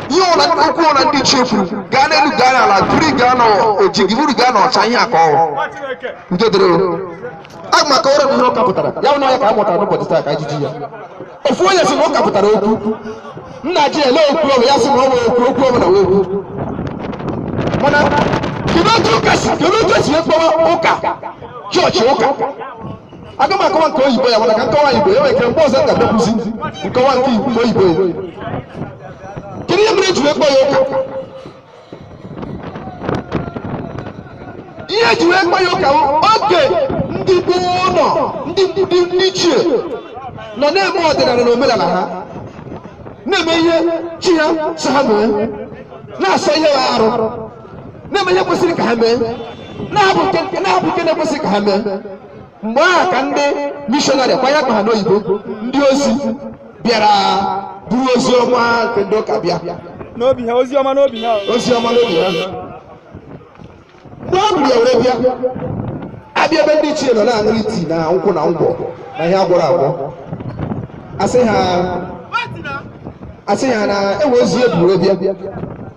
ihe ọla ndị ukwu ọla ndị chefuru gaa n'elu gaa n'ala buru gaa n'oji gị buru gaa n'ọcha ihe aka ọhụrụ nke dịrị aga m akọwara m ihe ụka pụtara ya bụ na ya ka a mụtara n'ụbọchị taa ka ajụjụ ya ofu onye sị na ụka pụtara okwu nna ji ele okwu ọbụ ya sị na ọ nwere okwu okwu ọbụla wee okwu mana kedu otu ụka si kedu otu esi ekpọwa ụka chọọchị ụka aga m akọwa nke oyibo ya mana ka m kọwaa igbo ya nwere ike mgbe ọzọ m ga-abịakwuzi nkọwa nke Igbo- nke oyibo ya kedu ihe mere eji wee kpọ ya ụka ihe eji wee kpọ ya ụka bụ oge ndị gboo nọ ndị ndị ndị ichie nọ na-eme ọdịnala na omenala ha na-eme ihe chi ha sị ha mee na-asọ ihe bụ arụ na-eme ihe kwesịrị ka ha mee na-ahapụ nke na-ekwesịghị ka ha mee mgbe ahụ ka ndị mishọnarị kwanye akpa ha n'oyibo ndị ozi bịara buru ozi ọma nke ndị ụka bịa n'obi ha ozi ọma n'obi ha mgbe o buru ya were bịa abịa ebe ndị ichie nọ na-aṅụrị iti na nkwụ na ngwọ na ihe agwọrọ agwọ asị ha na enwere ozi ebu were bịa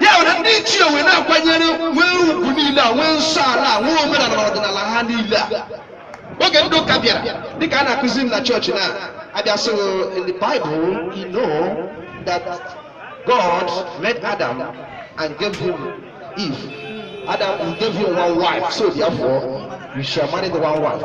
ya na ndị ichie wee na-akwanyere nwee ugwu niile a nwee nsọ ala a nwee omenala na ọdịnala ha niile a oge ndị ụka bịara dịka a na-akụzi m na chọọchị na abịa sị m, in the bible you know that god made adam and gave him eve adam gave him one wife so therefore you shall marry the one wife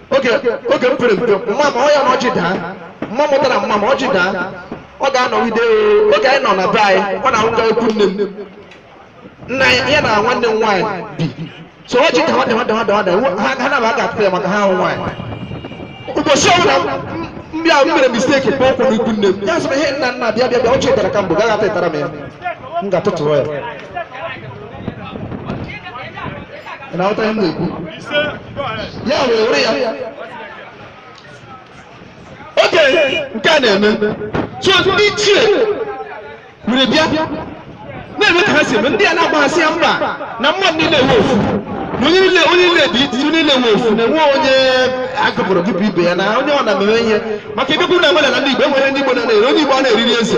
oge oge m pere mpe mma ma ọ ya na ọjị daa mma mụtara mma ma ọjị daa ọ ga-anọgide oo. oge anyị nọ na be anyị ọ na-abụ a gaa ikwu nne m nna ya ya na nwanne m nwaanyị bi so ọjị dawa ha ha na-aba aka atụta ya maka ha bụ nwaanyị ụbọchị ọbụla m- m- ndị ahụ mere misteki kpọ ụkwụ n'ikwu nne m ya sịrị ihe nna nna bịa bịa bịa ọjị dara ka mbụ gaghị atụtara m ya m ga-atụtụrụ ya na-aghọta ihe m na-ekwu ya wee were ya oge nke a na-eme so ndị ichie were bịa na-eme ka ha si eme ndị a na-agbaghasị ya mba na mmadụ niile bụ ofu na onye niile dị iti onye niile bụ ofu na enwe onye agụpụrụ gị bụ ibe ya na onye ọ na-ememe ihe maka ebe kwuru na nwere na ndị Igbo enweghị ndị Igbo na-eri onye Igbo a na-eriri eze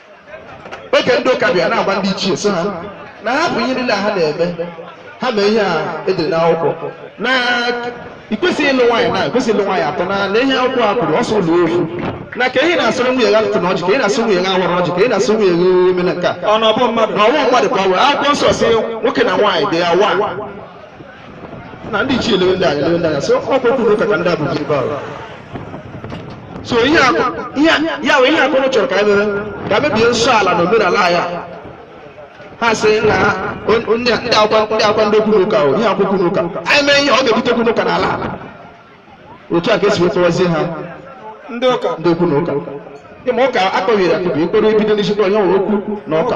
oge ndị ụka bịa na-agwa ndị ichie sị ha na hapụ ihe niile ha na-eme ha mee ihe a edere n'akwụkwọ na ị kwesịghị ịlụ nwaanyị na kwesịghị ịlụ nwaanyị atọ na na ihe akwụkwọ a kwuru ọ sọ ịlụ ofu na ka ị na-asịrị nwunye gị atụtụna ọjị ka ị na-asị nwunye gị awala ọjị ka ị na-asị nwunye gị emena nke a ọ na ọ bụ mmadụ na ọ bụ mmadụ ka ọ were akwụkwọ nsọ sị nwoke na nwaanyị dị ya wa na ndị ichie elewe ndị a anya elewe ndị a anya sị ọkwa okwu n'ụka ka ndị a bụzi ebe ahụ so ihe a ihe a ya bụ ihe akụrụ chọrọ ka anyị mere ka mebie nsọ ala na omenala ya ha sị na on- on- ndị akwa ndị akwa ndị okwu n'ụka ọ ihe okwu n'ụka anyị mee ihe ọ ga-ebute okwu n'ụka n'ala ala otu a ka e si wee kpọwazie ha ndị ụka ndị okwu na ụka ịma ụka a kpọbiri akpọbi ịkpọrọ ebido n'isi kpọrọ ya nwere okwu na ụka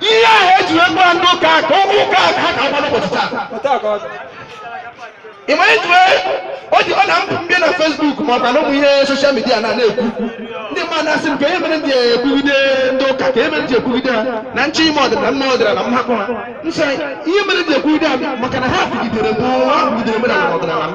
ihe ahụ e ji wee gbaa ndị ụka ka ọ bụ ụka a ka ha ka agba ruo ụbọchị taa Otu a ka ọ dị. ị ma eji wee o ji ọ na m pụ m bịa na Facebook ma ọ bụ na ụmụ ihe social media na na-ekwu ndị mmadụ na-asị m kee ihe mere m ji ekwugide ndị ụka kee ihe mere m ji ekwugide ha na m chọọ ime ọdịnala m mee ọdịnala m hapụ ha m sị ihe mere m ji ekwugide ha maka na ha kwugidere m ha kwugidere m na ọdịnala m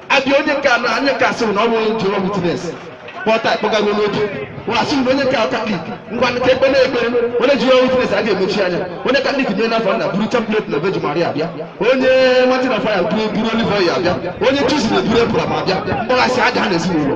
abịa onye nke anọ anyị ka asịrị na ọ bụrụ Jehovah Witness kpọta akpọkọọ n'otu nwa asị na onye nke katọlik ngwa ka e kpee nụ ekpere onye Jehovah Witness a ga-emechi anya onye katọlik mee n'afa nna buru chaplet na Virgin Maria abịa onye Mountain of Fire buru buru olive oil abịa onye Chosen buru apron abịa mgbaghasị adaa na ezinụlọ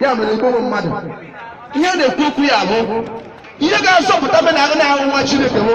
ya mere ị kpọọ mmadụ ihe ọ na-ekwu okwu ya bụ ihe ga-azọpụta be na agụ na ahụ nwa chineke bụ